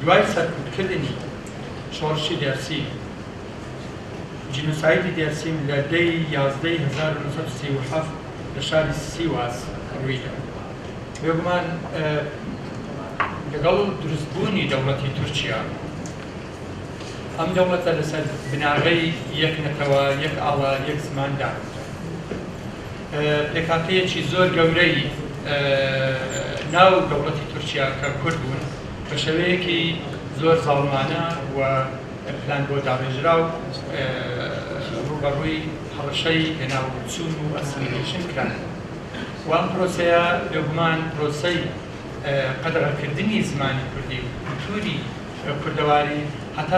دوای سەرکوتکردنی شۆڕشی دێرسیم، جینۆسایدی دێرسیم لە دە ی یازدە ی هەزار و نۆ سەد و سی و حەفت لە شاری سیواس ڕوویدا. بێگومان لەگەڵ دروستبوونی دەوڵەتی تورکیا، ئەم دەوڵەتە لەسەر بناغەی یەک نەتەوە، یەک ئاڵا، یەک زمان داکوتا. پێکهاتەیەکی زۆر گەورەی ناو دەوڵەتی تورکیا کە کورد بوون بە شێوەیەکی زۆر زاڵمانە و پلان بۆ داڕێژراو ڕووبەڕووی هەڕەشەی لەناوچوون و ئەسیمیلەیشن کران و ئەم پرۆسەیە بێگومان پرۆسەی قەدەغەکردنی زمانی کوردی و کولتووری کوردەواری هەتا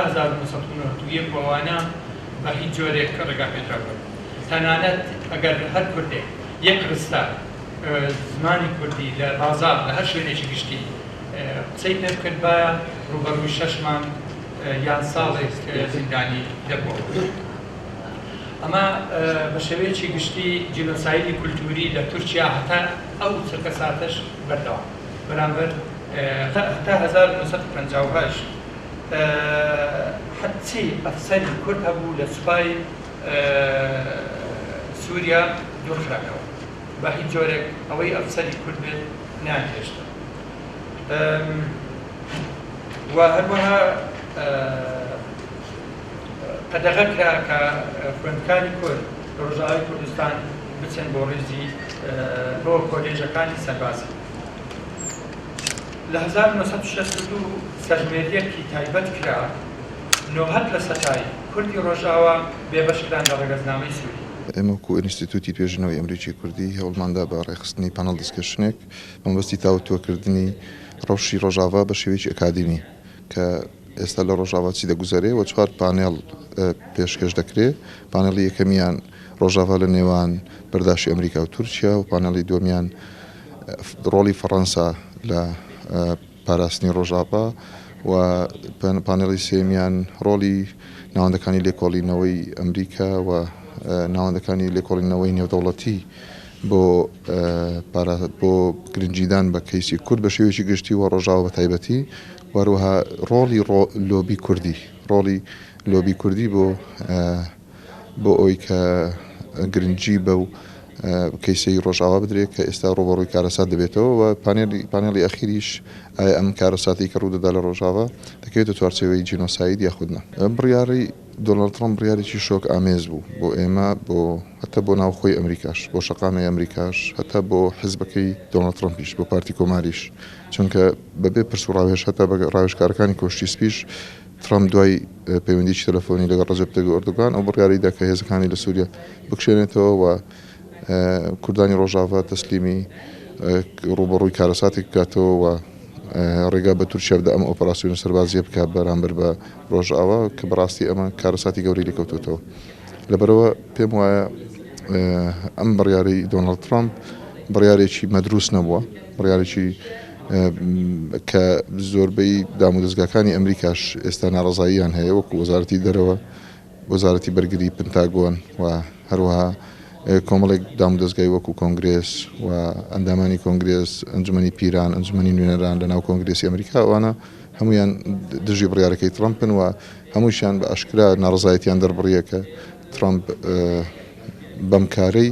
هەزار و نۆ سەد و نەوەد و یەک و ئەوانە بە هیچ جۆرێک ڕێگاپێدراو نەبوو. تەنانەت ئەگەر هەر کوردێک یەک ڕستە زمانی کوردی لە بازاڕ لە هەر شوێنێکی گشتی قسەی پێ بکردبایە، ڕووبەڕووی شەش مانگ یان ساڵێک زیندانی دەبووەوە. ئەمە بە شێوەیەکی گشتی جینۆسایدی کولتووری لە تورکیا هەتا ئەو چرکەساتەش بەردەوام بەرامبەر. هەتا هەزار و نۆ سەد و پەنجا و هەشت هەرچی ئەفسەری کورد هەبوو لە سوپای. سوریا دوور خراکەوە بە هیچ جۆرێک ئەوەی ئەفسەری کورد بێت نەیان هێشتن و هەروەها قەدەغە کرا کە خوێندکاری کورد لە ڕۆژاوای کوردستان بچن بۆ ڕیزی بۆ کۆلێژەکانی سەربازی لە هەزار و نۆ سەد و شەست و دوو سەرژمێرییەکی تایبەت کرا نۆهەد لە سەتای کوردی ڕۆژئاوا بێبەش کران لە ڕەگەزنامەی سوری. ئێمە وەکو ئینستیتوتی توێژینەوەی ئەمریکی کوردی هەوڵماندا بە ڕێکخستنی پانڵ دیسکەشنێک بەمەبەستی تاوتوەکردنی ڕەوشی ڕۆژاڤا بە شێوەیەکی ئەکادیمی کە ئێستا لە ڕۆژاڤا چی دەگوزەرێ وە چوار پانێڵ پێشکەش دەکرێ پانێڵی یەکەمیان ڕۆژاڤا لە نێوان بەرداشی ئەمریکا و تورکیا و پانێڵی دووەمیان ڕۆڵی فەڕەنسا لە پاراستنی ڕۆژاڤا، و پانێڵی سێیەمیان ڕۆڵی ناوەندەکانی لێکۆڵینەوەی ئەمریکا و ناوەندەکانی لێکۆڵینەوەی نێودەوڵەتی بۆ بۆ گرنگیدان بە کەیسی کورد بە شێوەیەکی گشتی و ڕۆژاوە بە تایبەتی وەروەها ڕۆڵی لۆبی کوردی ڕۆڵی لۆبی کوردی بۆ بۆ ئەوەی کە گرنگی بەو کەیسەی ڕۆژاوا بدرێت کە ئێستا ڕوبەڕووی کارەسات دەبێتەوە و پانێلی پانێڵی ئەخیریش ئایا ئەم کارەساتی کە ڕوودەدا لە ڕۆژاوا دەکەوێتە چوارچێوەی جینۆساید یاخود نا بڕیاری دۆناڵد ترەمپ بڕیارێکی شۆک ئامێز بوو بۆ ئێمە بۆ هەتا بۆ ناوخۆی ئەمریکاش بۆ شەقامی ئەمریکاش هەتا بۆ حزبەکەی دۆناڵد ترەمپیش بۆ پارتی کۆماریش چونکە بەبێ پرس و ڕاوێژ هەتا بە ڕاوێژکارەکانی کۆشکی سپیش ترەمپ دوای پەیوەندییەکی تەلەفۆنی لەگەڵ ڕەجەب تەیب ئۆردوگان ئەو بڕیارەی دا کە هێزەکانی لە سووریە بکشێنێتەوە و کوردانی ڕۆژاڤا تەسلیمی ڕووبەڕووی کارەساتێک بکاتەوە و ڕێگا بە تورکیا بدە ئەم ئۆپەراسیۆنە سەربازییە بکات بەرامبەر بە ڕۆژاوا کە بەڕاستی ئەمە کارەساتی گەورەی لێکەوتوتەوە لەبەرەوە پێم وایە ئەم بڕیارەی دۆناڵد ترەمپ بڕیارێکی مەدروست نەبووە. بڕیارێکی کە زۆربەی دامودەزگاکانی ئەمریکاش ئێستا ناڕەزاییان هەیە وەکو وەزارەتی دەرەوە وەزارەتی بەرگری پنتاگۆن و هەروەها کۆمەڵێک دامودەزگای وەکو کۆنگرێس و ئەندامانی کۆنگرێس ئەنجومنی پیران ئەنجومنی نوێنەران لە ناو کۆنگرێسی ئەمریکا ئەوانە هەمویان دژی بڕیارەکەی ترەمپن و هەمووشیان بە ئەشکرا ناڕزایەتیان دەربڕیەکە ترەمپ بەم کارەی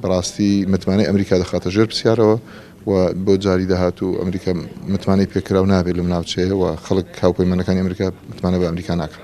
بەڕاستی متمانەی ئەمریکا دەخاتە ژێر پرسیارەوە و بۆ جاری داهاتوو ئەمریکا متمانەی پێکراو نابێت لەم ناوچەیە و خەڵک هاوپەیمانەکانی ئەمریکا متمانە بە ئەمریکا ناکەن.